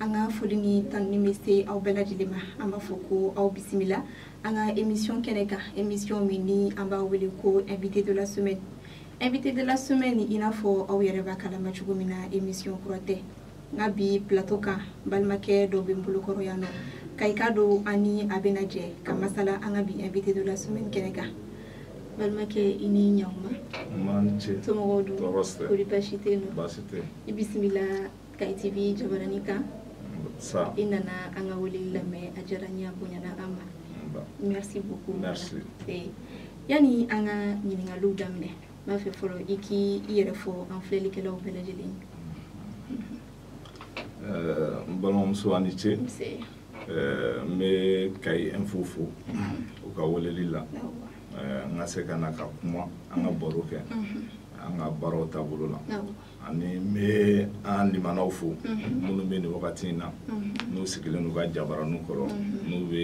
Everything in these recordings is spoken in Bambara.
an ka foli ni tanuni bɛ se aw bɛɛ lajɛlen ma an b'a fɔ ko aw bisimila an ka emisiyɔn kɛnɛ kan emisiyɔn min ni an b'a wele ko invité de la semaine invité de la semaine i n'a fɔ aw yɛrɛ b'a kalama cogo min na emisiyɔn kura tɛ nka bi plateau kan balimakɛ dɔ bɛ n bolokɔrɔ yan nɔ kayi k'a dɔn an ni a bɛna jɛ ka masala an ka bi invité de la semaine kɛnɛ kan balimakɛ i ni ɲankuma somɔgɔw dun kɔri baasi tɛ yen nɔ i bisimila kayi TV jabaranin kan i nana an ka weleli lamɛn a diyara n ye a bonyana an ma merci beaucoup merci eh, yani an ka ɲiningaliw daminɛ n b'a fɛ fɔlɔ i k'i i yɛrɛ fɔ an filɛlikɛlaw bɛɛ lajɛlen eh, n balimamuso a ni ce eh, n bɛ kayi info fo u ka weleli la n ka se ka na ka kuma an ka baro kɛ an ka baaraw taabolo la ani n bɛ an lamɛnnaw fo minnu bɛ nin wagati in na n'u sigilen n'u ka jabaraninw kɔrɔ n'u bɛ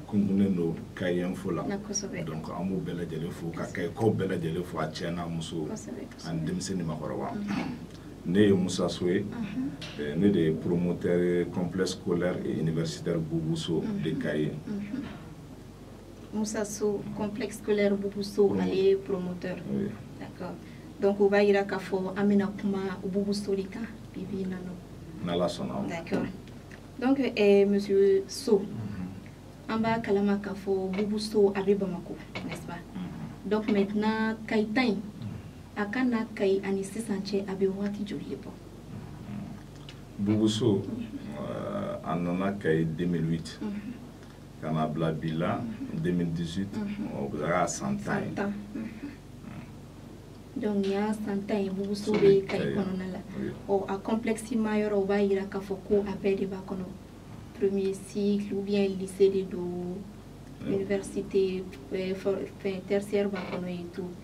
kunkunnen don kayi info la donc an b'u bɛɛ lajɛlen fo ka kayikaw bɛɛ lajɛlen fo a cɛ n'a muso ani denmisɛn ni maakɔrɔba ne ye musa so ye eh, ne de ye promoteur complexe scolaire et universitaire Boubou Sow de Kayes Moussa Sow complexe scolaire Boubou Sow ale ye promoteur d'accord donc o b'a yira k'a fɔ an bɛna kuma Boubou Sow de kan bi bi in na nɔ n'Ala sɔnna o d'accord donc eh, monsieur Sow an b'a kalama k'a fɔ Boubou Sow a bɛ Bamako n'est-ce pas donc maintenant Kayi ta in a ka na Kayi ani sisan cɛ a bɛ waati joli de bɔ Boubou Sow euh, a nana Kayi 2008 ka na bila bi la 2018 o bɛ kɛ san tan ye tan donc nin y'a san tan ye Boubou Sow bɛ kayi kɔnɔna la ɔ a complexe ma yɔrɔ o b'a yira k'a fɔ ko a bɛɛ de b'a kɔnɔ premier cycle ou bien lycée de don université fɛn tertiaire b'a kɔnɔ et tout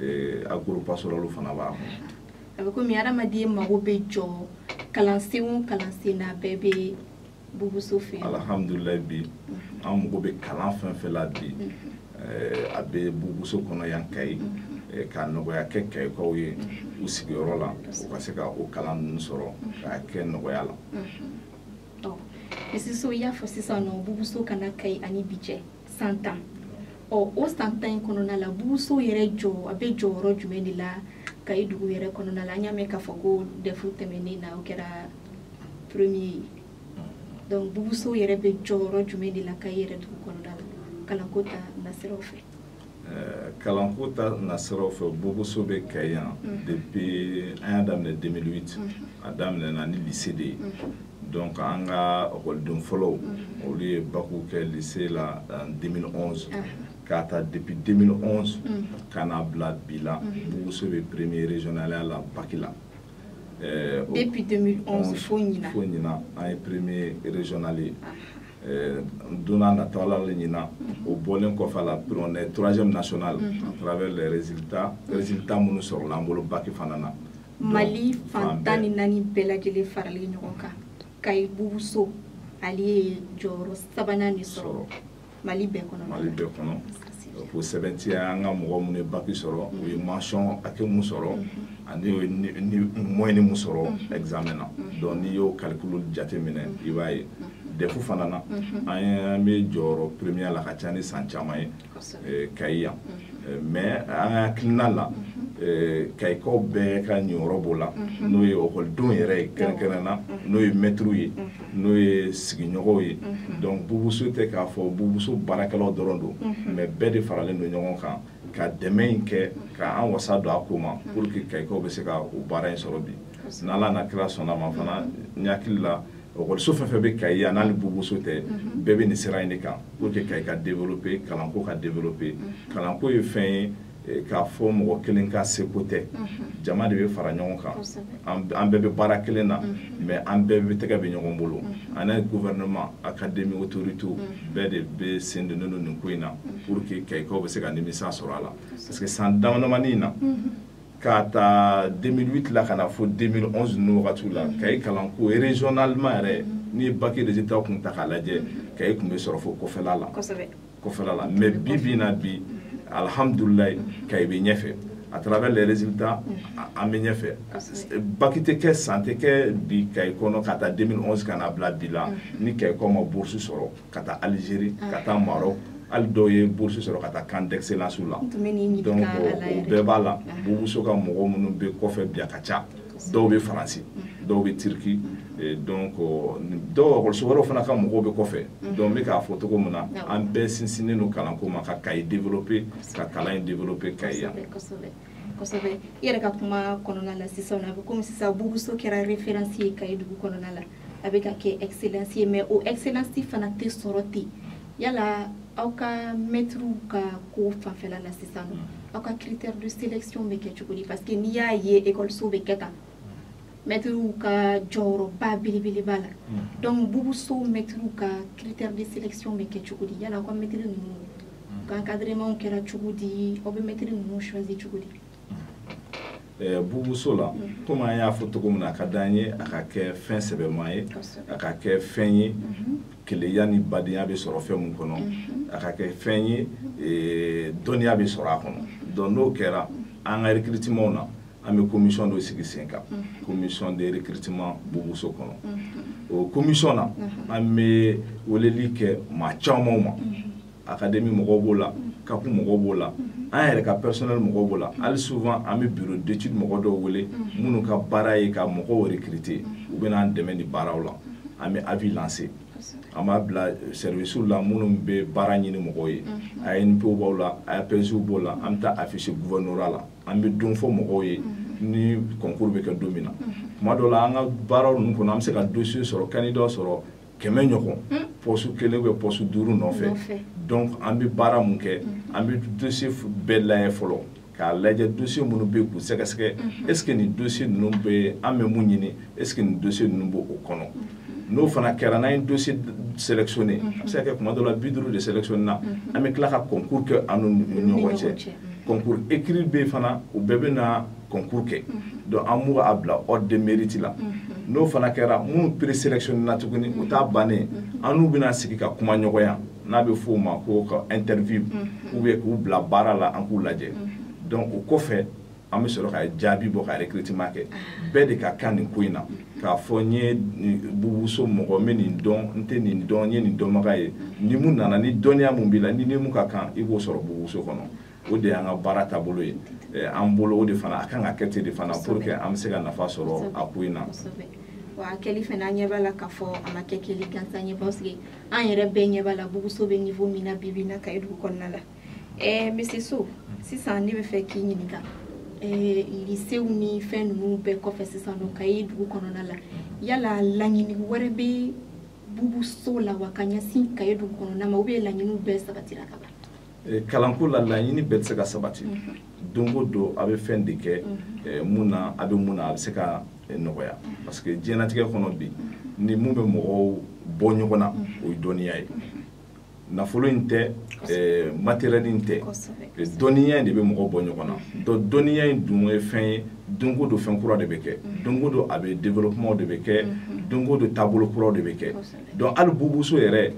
eh, agro-pastoral fana b'a kɔnɔ a bɛ komi hadamaden mago bɛ jɔ kalansen o kalansen na bɛɛ bɛ Boubou Sow fɛ alhamdulilayi bi mhm. an mago bɛ kalan fɛn fɛn la bi mhm. eh, a bɛ Boubou Sow kɔnɔ yan kayi mhm. eh, ka nɔgɔya kɛ kayikaw ye u sigiyɔrɔ la u ka se ka o kalan ninnu sɔrɔ k'a kɛ nɔgɔya la monsieur Sow i y'a fɔ sisan nɔ Boubou Sow ka na kayi ani bi cɛ san tan ɔ o san tan in kɔnɔna la Boubou Sow yɛrɛ jɔ a bɛ jɔyɔrɔ jumɛn de la kayi dugu yɛrɛ kɔnɔna la an y'a mɛn k'a fɔ ko DEF tɛmɛnen na o kɛra premier ye donc Boubou Sow yɛrɛ bɛ jɔyɔrɔ jumɛn de la kayi yɛrɛ dugu kɔnɔna la kalanko ta nasiraw fɛ kalanko ta nasiraw fɛ bubuso bɛ kayi yan mhm. depuis an y'a daminɛ 2008 mhm. a daminɛna ni lycée de ye mhm. donc an ka ekɔliden fɔlɔw olu ye baki kɛ lycée la 2011 k'a ta depuis 2011 ka na bila bi la bubuso bɛ premier régionalya la baki la depuis 2011 fo ɲina fo ɲina an ye premier régional ye eh, don n'a natɔ ala le ɲina o bɔlen kɔfɛ a la après on est troisième national mm-hmm. à travers les résultats résultats minnu sɔrɔla an bolo baki fana na mali fan tan ni naani bɛɛ lajɛlen faralen ɲɔgɔn kan kayi bubuso ale ye jɔyɔrɔ sabanan de sɔrɔ mali bɛɛ kɔnɔ mali bɛɛ kɔnɔ k'o sɛbɛntiya an ka mɔgɔ minnu ye baki sɔrɔ u ye mention hakɛ mun sɔrɔ ani moyenne mun sɔrɔ examen na donc n'i y'o calcul jate minɛ i b'a ye dɛfu fana na an bɛ jɔyɔrɔ premier la ka ca ni san caman ye eh, kayi yan eh, mais an ka hakilina la eh, kayikaw bɛɛ ka ɲiyɔrɔ b'o la n'o ye ekɔlidenw yɛrɛ ye kɛrɛnkɛrɛn na n'o ye mɛtiriw ye n'o ye sigiɲɔgɔnw ye mhm. donc bubuso tɛ k'a fɔ bubuso baarakɛlaw dɔrɔn don mhm. mais bɛɛ de faralen don ɲɔgɔn kan ka dɛmɛ in kɛ ka an wasa don a ko ma mhm. pour que kayikaw bɛ se ka o baara in sɔrɔ bi n'ala n'a kira sɔnna ma fana n hakili la ekɔliso fɛn fɛn bɛ kayi yan n'ale bubuso tɛ bɛɛ bɛ nin sira in de kan pour que kayi ka développer kalanko ka développer kalanko ye fɛn ye eh, k'a fɔ mɔgɔ kelen ka seko tɛ mhm. jama de bɛ fara ɲɔgɔn kan an bɛɛ bɛ baara kelen na mhm. mais an bɛɛ bɛ tɛgɛ bɛ ɲɔgɔn bolo mhm. ani gouvernement académie autorité bɛɛ de bɛ sen donnen don nin ko in na pour que kayikaw bɛ se ka nimisa sɔrɔ a la parce que san damadamani in na k'a ta 2008 la ka na fo 2011 ninnu wagatiw la kayi kalanko régionalement yɛrɛ n'i ye baki résultat kun ta k'a lajɛ kayi tun bɛ sɔrɔ fo kɔfɛla la kɔfɛla la mais bi bi na bi alhamdulilayi kayi bɛ ɲɛfɛ à travers les résultats an bɛ ɲɛfɛ baki tɛ kɛ san tɛ kɛ bi kayi kɔnɔ k'a ta 2011 ka na bila bi la ni kayikaw ma bourse sɔrɔ ka taa Algérie ka taa Maroc hali dɔw ye bourse sɔrɔ ka taa camp d'excellence la donc o bɛɛ b'a la bubuso ka mɔgɔ minnu bɛ kɔfɛ bi a ka ca dɔw bɛ faransi dɔw bɛ turki donc dɔw ekɔliso wɛrɛw fana ka mɔgɔw bɛ kɔfɛ donc n bɛ k'a fɔ cogo min na an bɛɛ sinsinnen don kalanko ma ka kayi développer ka kalan in développer kayi yan kosɛbɛ i yɛrɛ ka kuma kɔnɔna la sisan a bɛ komi sisan bubuso kɛra référence ye kayi dugu kɔnɔna la a bɛ ka kɛ excellence ye mais o excellence fana tɛ sɔrɔ ten yala aw ka mɛtiriw ka ko fanfɛla la sisan nɔ aw ka critère de sélection bɛ kɛ cogo di parce que n'i y'a ye ekɔliso bɛ kɛ tan mɛtiriw ka jɔyɔrɔba belebeleba la mm. donc bubuso mɛtiriw ka critère de sélection bɛ kɛ cogo di yala aw ka mɛtiri ninnu mm. ka encadrement kɛra cogo di aw bɛ mɛtiri ninnu choisi cogo di Eh, bubuso la mhm. komi an y'a fɔ cogo min na a ka di an ye a ka kɛ fɛn sɛbɛma ye a ka kɛ fɛn ye mhm. kelenya ni badenya bɛ sɔrɔ fɛn min kɔnɔ mhm. a ka kɛ fɛn ye eh, dɔnniya bɛ sɔrɔ a kɔnɔ donc n'o kɛra an ka recrutement na an bɛ commission dɔ sigi sen kan commission de recrutement bubuso kɔnɔ o commission na an bɛ weleli kɛ maa camanw ma akademi mɔgɔw b'o la kapu mɔgɔw b'o la an yɛrɛ ka pɛrisɔnɛli mɔgɔw b'o la hali souvent an bɛ bureau d'étude mɔgɔ dɔw wele minnu ka baara ye ka mɔgɔw recruter u bɛ n'an dɛmɛ nin baaraw la an bɛ avis lancer an b'a bila sɛriwisiw la minnu bɛ baara ɲini mɔgɔw ye anpe b'o la apej b'o la an bɛ taa afficher gouvernorat la an bɛ don fɔ mɔgɔw ye ni kɔnkuru bɛ kɛ don min na tuma dɔ la an ka baaraw ninnu kɔnɔ an bɛ se ka dosie sɔrɔ candidat sɔrɔ kɛmɛ ɲɔgɔn hmm. poste kelen ou poste duuru nɔfɛ donc an bɛ baara mun kɛ hmm. an bɛ dosie bɛɛ layɛ fɔlɔ k'a lajɛ dosie minnu bɛ k'u sɛgɛsɛgɛ hmm. est ce que nin dosie ninnu bɛ an bɛ mun ɲini est ce que nin dosie ninnu b'o kɔnɔ n'o fana kɛra n'an ye dosie sélectionné a bɛ se ka kɛ tuma dɔ la bi duuru de sélectionné na an bɛ tila ka concours kɛ an n'u ni ɲɔgɔn cɛ concours écrit bɛ yen fana u bɛɛ bɛ na concours kɛ donc an b'u a bila ordre de mérite la n'o fana kɛra minnu présélectionné na tuguni o t'a bannen an n'u bɛna sigi ka kuma ɲɔgɔnya n'a bɛ f'o ma ko ka interview ou bien k'u bila baara la an k'u lajɛ donc o kɔfɛ an bɛ sɔrɔ ka jaabi bɔ ka recrutement kɛ bɛɛ de ka kan nin ko in na k'a fɔ n ye bubuso mɔgɔ n bɛ nin dɔn n tɛ nin dɔn n ye nin dɔnbaga ye ni mun nana ni dɔnniya mun b'i la ni ni mun ka kan i b'o sɔrɔ bubuso kɔnɔ o de y'an ka baara taabolo ye eh, an bolo o de fana a kan ka kɛ ten de fana pour que an bɛ se ka nafa sɔrɔ a ko in na wa a kɛli fana an ɲɛ b'a la k'a fɔ a ma kɛ kɛli gansan ye parce que an yɛrɛ bɛɛ ɲɛ b'a la bubuso bɛ niveau min na bi bi in na kayi dugu kɔnɔna la ɛɛ eh, monsieur so sisan ne bɛ fɛ k'i ɲininka ɛɛ eh, lisew ni fɛn ninnu bɛɛ kɔfɛ sisan nɔ kayi dugu kɔnɔna la yala laɲini wɛrɛ bɛ bubuso la wa ka ɲɛsin kayi dugu kɔnɔna ma ou bien laɲiniw bɛɛ sabatira ka ban eh, kalanko la laɲini bɛɛ tɛ se ka sabati mhm. don o don a bɛ fɛn de kɛ mhm. eh, mun na a bɛ mun na a bɛ se ka eh, nɔgɔya mhm. parce que diɲɛlatigɛ kɔnɔ bi ni mun bɛ mɔgɔw bɔ ɲɔgɔn na o ye dɔnniya ye nafolo in tɛ matériel in tɛ dɔnniya in de bɛ mɔgɔw bɔ ɲɔgɔn na donc dɔnniya in dun ye fɛn ye don o don fɛn kura de bɛ kɛ don o don a bɛ développement de bɛ kɛ don o don taabolo kuraw de bɛ kɛ donc hali bubuso yɛrɛ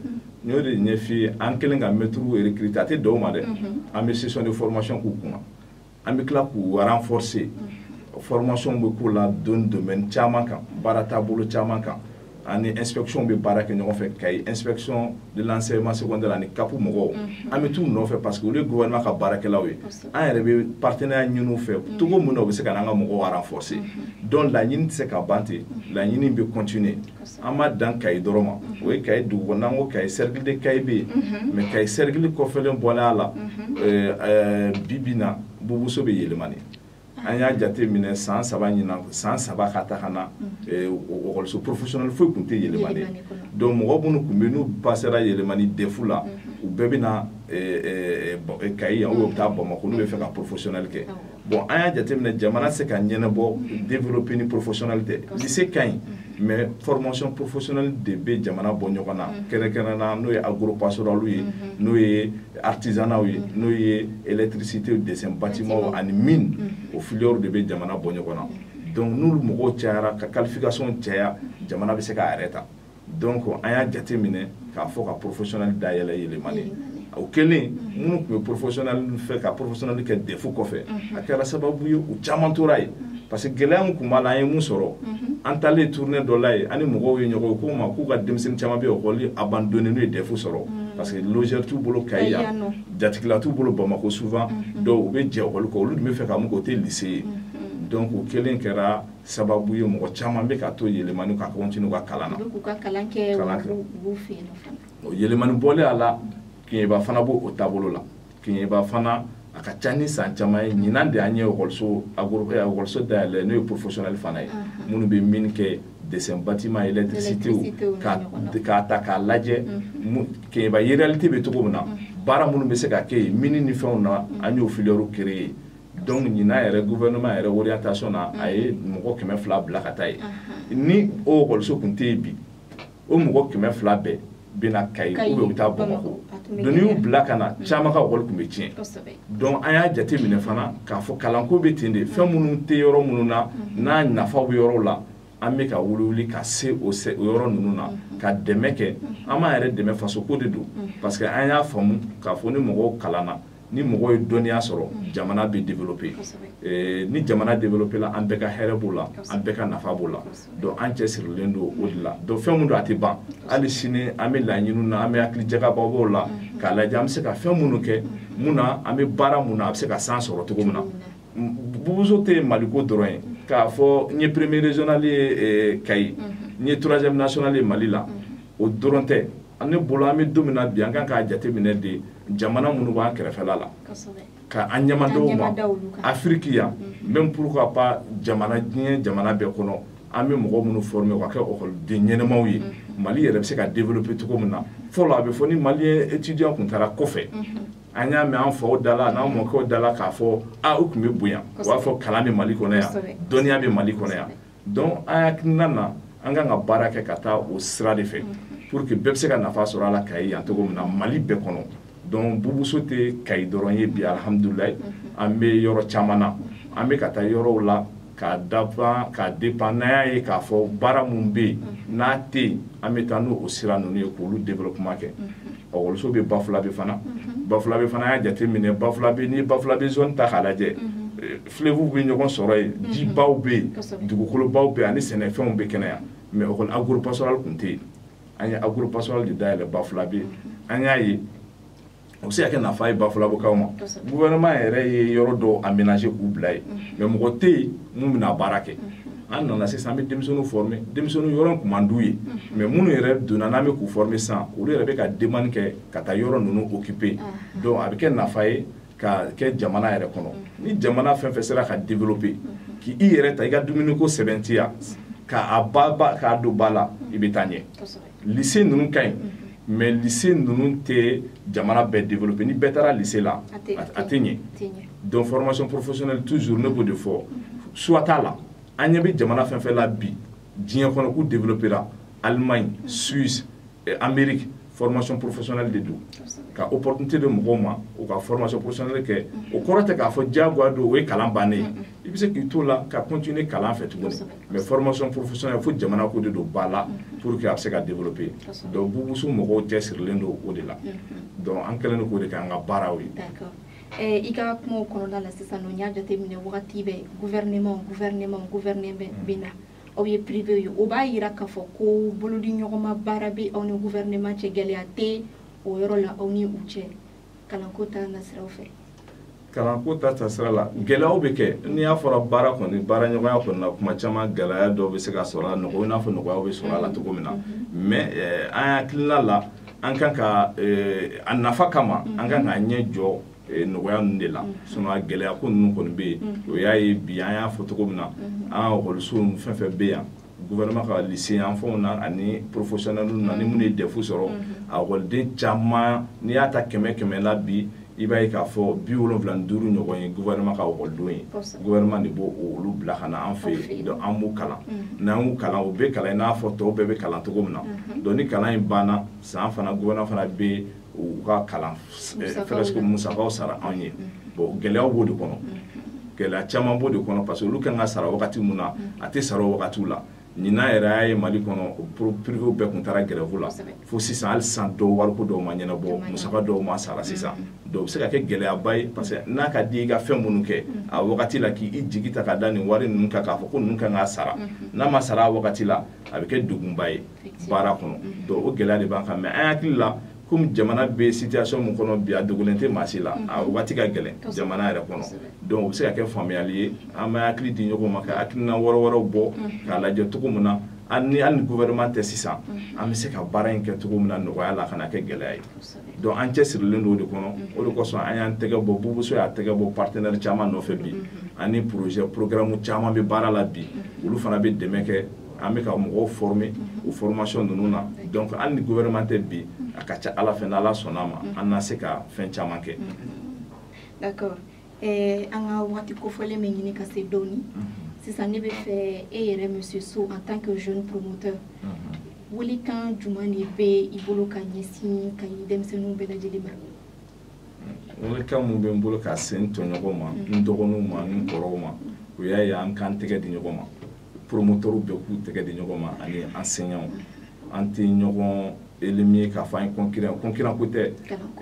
n y'o de ɲɛf'i ye an kɛlen ka mɛtiriw recruter a tɛ dan o ma dɛ an bɛ session de formation k'u kunna an bɛ tila k'u renforcer formation bɛ k'u la don domaine caman kan baara taabolo caman kan an ni inspection bɛ baara kɛ ɲɔgɔn fɛ kayi inspection de l'enseignement secondaire ani cap mɔgɔw an bɛ t'u nɔfɛ parce que olu ye gouvernement ka baarakɛlaw ye an yɛrɛ bɛ partenariat ɲini u fɛ cogo min na u bɛ se ka n'an ka mɔgɔw renforcer donc laɲini tɛ se ka ban ten laɲini bɛ continuer an ma dan kayi dɔrɔn ma o ye kayi dugu kɔnɔ n'an ko kayi cercle de kayi bɛ yen mais kayi cercle kɔfɛlen bɔlen a la bi bi in na bubuso bɛ yɛlɛmani an y'a jate minɛ san saba ɲinan san saba ka taa ka na ekɔliso professionnel foyi tun tɛ yɛlɛmani donc mɔgɔ minnu tun bɛ n'u pasera yɛlɛmani defu la u bɛɛ bɛ na kayi yan u bɛ taa bamakɔ n'u bɛ fɛ ka professionnel kɛ bon an y'a jateminɛ jamana se ka ɲɛnabɔ développer ni professionnel tɛ lycée ka ɲi mais formation professionnelle de bɛ jamana bɔ ɲɔgɔn na kɛrɛnkɛrɛn na n'o ye agropastorale ye n'o ye artisanat ye n'o ye électricité dessin bâtiment ani mine o filières de bɛ jamana bɔ ɲɔgɔn na donc n'olu mɔgɔw cayara ka qualification caya jamana bɛ se k'a yɛrɛ ta donc an y'a jate minɛ k'a fɔ ka professionnel dayɛlɛ yɛlɛmani o kɛlen minnu tun bɛ professionnel fɛ ka professionnel kɛ defu kɔfɛ a kɛra sababu ye u caman tora yen parce que gɛlɛya min tun b'a la an ye mun sɔrɔ an taalen tournée dɔ la yen an ni mɔgɔw ye ɲɔgɔn kuma k'u ka denmisɛnnin caman bɛ école abandonner n'u ye defu sɔrɔ parce que logeur t'u bolo kayi yan jatigila t'u bolo bamakɔ souvent donc u bɛ jɛ école kɔ olu tun bɛ fɛ ka mun kɛ o tɛ lycée ye donc o kɛlen kɛra sababu ye mɔgɔ caman bɛ ka to yɛlɛmani ka continuer ka kalan na k'u ka kalan kɛ b'u fɛ yen fana o yɛlɛmani bɔlen a la kiɲɛba fana b'o o taabolo la kiɲɛba fana a ka ca ni san caman ye ɲinan de an ye ekɔliso ekɔliso dayɛlɛ n'o ye professionnel fana ye minnu bɛ mine kɛ dessin bâtiment électricité ka k'a ta k'a lajɛ kiɲɛba réalité bɛ cogo min na baara minnu bɛ se ka kɛ yen mine ni fɛnw na an y'o filières créer donc ɲinan yɛrɛ gouvernement yɛrɛ orientation na a ye mɔgɔ kɛmɛ fila bila ka taa yen ni o ekɔliso kun tɛ yen bi o mɔgɔ kɛmɛ fila bɛɛ bɛ na kayi ou bien u bɛ taa bamakɔ donc n'i y'u bila ka na caman ka ekɔli kun bɛ tiɲɛ donc an y'a jate minɛ fana k'a fɔ kalanko bɛ ten de fɛn minnu tɛ yɔrɔ minnu na n'a nafa bɛ yɔrɔw la an bɛ ka wuliwuli ka se o yɔrɔ ninnu na ka dɛmɛ kɛ an b'an yɛrɛ dɛmɛ fasoko de don parce que an y'a faamu k'a fɔ ni mɔgɔw kalanna ni mɔgɔ ye dɔnniya sɔrɔ mm. jamana bɛ développer eh, ni jamana développé la an bɛɛ ka hɛrɛ b'o la an bɛɛ ka nafa b'o la donc an cɛsirilen don o de la donc fɛn mun don a tɛ ban hali sini an bɛ laɲiniw na an bɛ hakili jagabɔ b'o la mm-hmm. k'a lajɛ an bɛ se ka fɛn minnu kɛ mm-hmm. mun na an bɛ baara mun na a bɛ se ka san sɔrɔ cogo min na bubuso tɛ maliko dɔrɔn ye mm-hmm. k'a fɔ n ye premier régional ye eh, kayi n ye troisième national ye mali la o dɔrɔn tɛ ne bolo an bɛ don min na bi an kan k'a jate minɛ de jamana minnu b'an kɛrɛfɛla la ka an ɲɛmadaw ma afiriki yan même pourquoi pas jamana diɲɛ jamana bɛɛ kɔnɔ an bɛ mɔgɔ minnu former ka kɛ ekɔliden ɲɛnamaw ye mali yɛrɛ bɛ se ka développer cogo min na fɔlɔ a bɛ fɔ ni malien étudiant kun taara kɔfɛ an y'a mɛn an faw da la n'an mɔkɛw da la k'a fɔ a u kun bɛ bonya u b'a fɔ kalan bɛ mali kɔnɔ yan dɔnniya bɛ mali kɔnɔ yan donc an hakilina na an kan ka baara kɛ ka taa o sira de fɛ pour que bɛɛ bɛ se ka nafa sɔrɔ a la kayi yan cogo min na mali bɛɛ kɔnɔ donc bubuso tɛ kayi dɔrɔn ye bi alihamudulilayi an bɛ yɔrɔ caman na an bɛ ka taa yɔrɔw la k'a dépend n'an y'a ye k'a fɔ baara mun bɛ yen n'a tɛ yen an bɛ taa n'o sira ninnu ye k'olu développement kɛ ekɔliso bɛ bafulabe fana bafulabe fana y'a jate minɛ bafulabe n'i ye bafulabe zone ta k'a lajɛ fleuvew bɛ ɲɔgɔn sɔrɔ yen mhm. jibaw bɛ yen dugukolobaw bɛ yen ani sɛnɛfɛnw bɛ kɛnɛya mais ekɔli agropastoral kun tɛ yen an ye agropastoral de dayɛlɛ bafulabe yen mhm. an y'a ye o bɛ se ka kɛ nafa ye bafulabekaw ma gouvernement yɛrɛ ye yɔrɔ dɔw aménager k'u bila yen mhm. mais mɔgɔ tɛ yen mun bɛna baara kɛ an nana sisan an bɛ denmisɛnninw former denmisɛnninw yɔrɔ in kun man d'u ye mais minnu yɛrɛ donna n'an bɛ k'u former sisan olu yɛrɛ bɛ ka demande kɛ ka taa yɔrɔ ninnu occuper donc a bɛ kɛ nafa ye ka kɛ jamana yɛrɛ kɔnɔ ni jamana fɛn fɛn sera ka développer k'i yɛrɛ ta i ka dumuniko sɛbɛntiya k'a ba ba k'a don ba la i bɛ taa ɲɛ lycée ninnu ka ɲi mais lycée ninnu tɛ jamana bɛɛ développer ni bɛɛ taara lycée la a tɛ ɲɛ donc formation professionnelle toujours ne b'o de fɔ choix t'a la an ɲɛ bɛ jamana fɛn fɛn la bi diɲɛ kɔnɔ k'u développer la Allemagne Suisse eh, Amérique formation professionnelle de don ka opportunité di mɔgɔw ma u ka formation professionnelle kɛ mm-hmm. o kɔrɔ tɛ k'a fɔ diyagoya don o ye kalan bannen ye mm-hmm. i bɛ se k'i to la ka continuer kalan fɛ tuguni mais formation professionnelle fo jamana ko de don ba la mm-hmm. pour que a bɛ se ka développer donc bubuso mɔgɔw cɛsirilen don o de la donc an kɛlen don k'o de kɛ an ka baaraw ye. Eh, i ka kumaw kɔnɔna la sisan n'an y'a jateminɛ wagati bɛɛ gouvernement gouvernement gouvernement bɛ na aw ye privéw ye o b'a yira k'a fɔ ko bolodi ɲɔgɔnma baara bɛ aw ni gouvernement cɛ gɛlɛya tɛ o yɔrɔ la aw ni u cɛ kalanko ta nasiraw fɛ kalanko ta tasira la gɛlɛyaw bɛ kɛ n'i y'a fɔra baara kɔni baara ɲɔgɔnya kɔni na kuma caman gɛlɛya dɔw bɛ se ka sɔrɔ a nɔgɔ i n'a fɔ nɔgɔyaw bɛ sɔrɔ a la cogo min na mm-hmm. mais eh, an hakilina la an kan ka eh, a nafa kama an kan k'a ɲɛ jɔ eh, nɔgɔya ninnu de la mm. sinon a gɛlɛya ko ninnu kɔni bɛ yen mm. o y'a ye bi an y'a fɔ cogo min na mm-hmm. an ka ekɔliso ninnu fɛn fɛn bɛ yan gouvernement ka lycée yanfanw na ani professionnel na ni minnu ye DEF sɔrɔ mm-hmm. a ekɔliden caman n'i y'a ta kɛmɛ kɛmɛ la bi i b'a ye k'a fɔ bi wolonwula ni duuru ɲɔgɔn ye gouvernement ka ekɔlidenw ye gouvernement de b'olu bila ka na an fɛ yen donc an b'u kalan mm-hmm. n'an y'u kalan u bɛ kalan i n'a fɔ tɔw bɛɛ bɛ kalan cogo min na mm-hmm. donc ni kalan in banna san fana gouvernement fana bɛ u ka kalan presque musakaw sara anw ye bon gɛlɛyaw b'o de kɔnɔ gɛlɛya caman b'o de kɔnɔ parce que olu kan ka sara wagati min na a tɛ sara o wagatiw la ɲinan yɛrɛ y'a ye mali kɔnɔ privéw bɛɛ tun taara grève la fo sisan hali sisan dɔw wariko dɔw ma ɲɛnabɔ musaka dɔw ma sara sisan donc o bɛ se ka kɛ gɛlɛyaba ye parce que n'a ka di i ka fɛn minnu kɛ a wagati la k'i jigi ta ka da nin wari ninnu kan k'a fɔ ko ninnu kan ka sara n'a ma sara a wagati la a bɛ kɛ degunba ye baara kɔnɔ mhm. donc o gɛlɛya de b'an kan mais an hakili la comme jamana bɛ situation min kɔnɔ bi a dogolen tɛ maa si la mhm. a waati ka gɛlɛn jamana yɛrɛ kɔnɔ donc o bɛ se ka kɛ faamuyali ye an bɛ hakili di ɲɔgɔn ma ka hakilina wɛrɛ wɛrɛw bɔ mhm. k'a lajɛ cogo min na an ni hali ni gouvernement tɛ sisan an bɛ se ka baara in kɛ cogo min na nɔgɔya la kana kɛ gɛlɛya ye donc an cɛsirilen don o de kɔnɔ o de kosɔn an y'an tɛgɛ bɔ bubuso y'a tɛgɛ bɔ partenaire caman nɔfɛ bi ani projet programme caman bɛ baara la bi olu fana bɛ dɛmɛ kɛ an bɛ ka mɔgɔw former o formation ninnu na donc hali ni gouvernement tɛ bi a ka ca ala fɛ n'ala sɔnna a ma an na se ka fɛn caman kɛ d'accord an ka waati kofɔlen bɛ ɲini ka se dɔɔnin sisan ne bɛ fɛ e yɛrɛ monsieur So en tant que jeune promoteur welekan jumɛn de bɛ i bolo ka ɲɛsin ka ɲi denmisɛnninw bɛɛ lajɛlen ma welekan min bɛ n bolo ka se n tɔɲɔgɔnw ma n dɔgɔninw ma n kɔrɔw ma o y'a ye an k'an tɛgɛ di ɲɔgɔn ma promotɛriw bɛɛ k'u tɛgɛ di ɲɔgɔn ma ani enseignants an tɛ ɲɔgɔn éliminer k'a fɔ an ye concurrent concurrent ko tɛ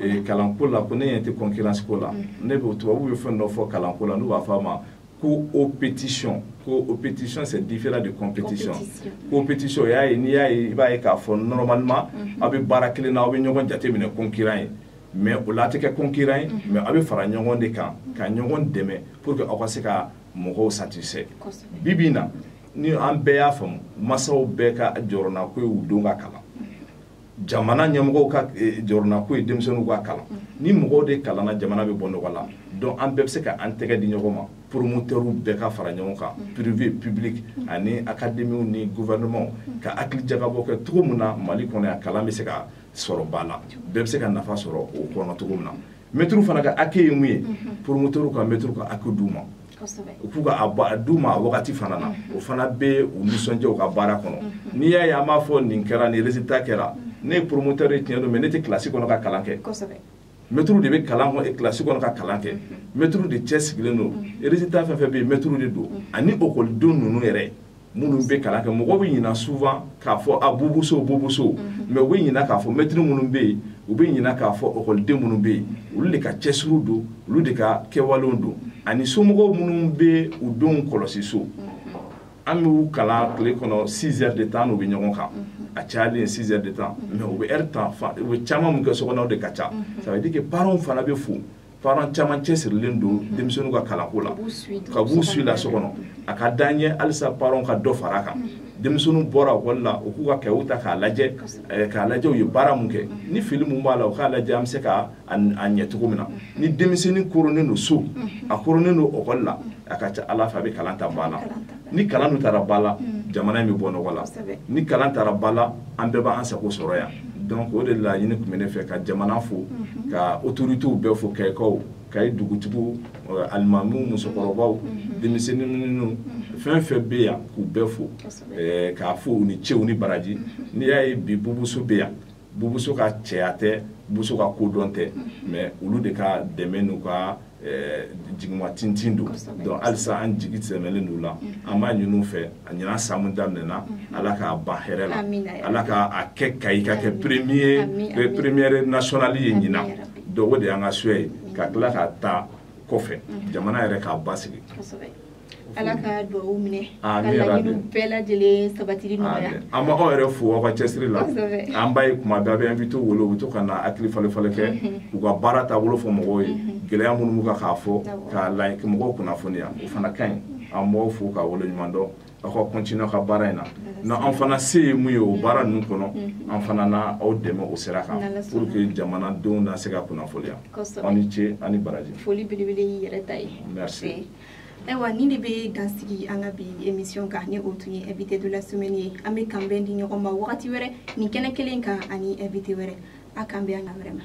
eh, kalanko la ko ne ɲɛ tɛ concurrence ko la mm-hmm. ne bɛ tubabuw ye fɛn dɔ fɔ kalanko la n'u b'a fɔ a ma coopétition coopétition c'est différent de compétition coopétition o y'a ye n'i y'a ye i b'a ye k'a fɔ normalement mm-hmm. aw bɛ baara kelen na aw bɛ ɲɔgɔn jateminɛ concurrent ye mais o la a tɛ kɛ concurrent ye mm-hmm. mais aw bɛ fara ɲɔgɔn de kan ka ɲɔgɔn dɛmɛ pour que aw ka se ka mɔgɔw satisfait bi bi na ni an bɛɛ y'a faamu masaw bɛɛ ka jɔrɔnanko ye u denw ka kalan jamana ɲɛmɔgɔw ka eh, jɔrɔnanko ye denmisɛnninw ka kalan ni mɔgɔw de kalanna jamana bɛ bɔ nɔgɔ la donc an bɛɛ bɛ se ka an tɛgɛ di ɲɔgɔn ma promotɛriw bɛɛ ka fara ɲɔgɔn kan privé public ani akademiw ni gouvernement ka hakili jagabɔ kɛ cogo min na mali kɔnɔ yan kalan bɛ se ka sɔrɔ ba la bɛɛ bɛ se ka nafa sɔrɔ o kɔnɔ cogo min na mɛtiriw fana ka hakɛ ye mun ye mhm. promoteur ka mɛtiriw ka hakɛ d'u ma u k'u ka d'u ma a wagati fana na mhm. o fana bɛ u nisɔndiya u ka baara kɔnɔ mhm. n'i y'a ye an b'a fɔ nin kɛra nin résultat kɛra ne ye promoteur ye tiɲɛ don mais ne tɛ kilasi kɔnɔ ka kalan kɛ mɛtiriw de bɛ kalan kɔnɔ kilasi kɔnɔ ka kalan kɛ mɛtiriw de cɛsirilen don résultat fɛn fɛn bɛ yen mɛtiriw de don ani ekɔlidenw ninnu yɛrɛ minnu bɛ kalan kɛ mɔgɔ bɛ ɲina souvent k'a fɔ a bubu so bubu so mhm. mais u bɛ ɲina k'a fɔ mɛtiri minnu bɛ yen u bɛ ɲina k'a fɔ ekɔliden minnu bɛ yen olu de ka cɛsiriw don olu de ka kɛwalew don ani somɔgɔw minnu bɛ u denw kɔlɔsi so mhm. an b'u kalan tile kɔnɔ 6 heures de temps n'u bɛ ɲɔgɔn kan mhm. a cayalen ye 6 heures de temps mais u bɛ heure tan u bɛ caman min kɛ so kɔnɔ o de ka ca ça veut dire que parents fana bɛ fo parents caman cɛsirilen don denmisɛnninw ka kalanko la ka b'u suit la so kɔnɔ a ka d'an ye halisa parents ka dɔ fara kan denmisɛnninw bɔra ekɔli la u k'u kayew ta k'a lajɛ eh, k'a lajɛ u ye baara mun kɛ ni fili mun b'a la u k'a lajɛ an bɛ se ka a ɲɛ cogo min na ni denmisɛnnin koronnen don so a koronnen don ekɔli la a ka ca ala fɛ a bɛ kalan ta ba la ni kalan dun taara ba la mm. jamana in bɛ bɔ nɔgɔ la ni kalan taara ba la an bɛɛ b'an sago sɔrɔ yan mm. donc o de laɲini tun bɛ ne fɛ ka jamana fo mm-hmm. ka autorités bɛɛ fo kayikaw kayi dugutigiw euh, alimamiw musokɔrɔbaw mm-hmm. denmisɛnnin minnu mm-hmm. fɛn fɛn bɛ yan k'u bɛɛ fo k'a fo u ni ce u ni baraji n'i y'a ye bi bubu so bɛ yan bubu so ka cɛya tɛ bubu so ka kodɔn tɛ mais olu de ka dɛmɛ n'u ka eh, jigima tintin don donc halisa an jigi sɛmɛlen don u la an b'a ɲin'u fɛ a ɲinan san mun daminɛna ala k'a ban hɛrɛ la ala ka a kɛ kayi ka kɛ premier première nationale ye ɲinan donc o de y'an ka souhait ye ka tila ka ta kɔfɛ jamana yɛrɛ ka basigi ala ka dugawu minɛ ka laɲiniw bɛɛ lajɛlen sabatili nɔgɔya an b'aw yɛrɛ fo aw ka cɛsiri la an b'a ye kuma bɛɛ aw bɛ invité wele u bɛ to ka na hakili falefale kɛ u ka baara taabolo fɔ mɔgɔw ye gɛlɛya minnu b'u kan k'a fɔ k'a la mɔgɔw kunnafoniya o fana ka ɲi an b'aw fo k'aw waleɲumandɔn aw ka continuer ka baara in na ni an fana se ye mun ye o baara ninnu kɔnɔ an fana na aw dɛmɛ o sira kan pour que jamanadenw na se ka kunnafoniya aw ni ce ani baraji foli belebele y'i yɛrɛ ta ye merci ayiwa nin de bɛ dansigi an ka bi émission kan ni o tun ye invité de la semaine ye an bɛ kanbɛn di ɲɔgɔn ma wagati wɛrɛ nin kɛnɛ kelen kan ani invité wɛrɛ an k'an bɛn an na wɛrɛ ma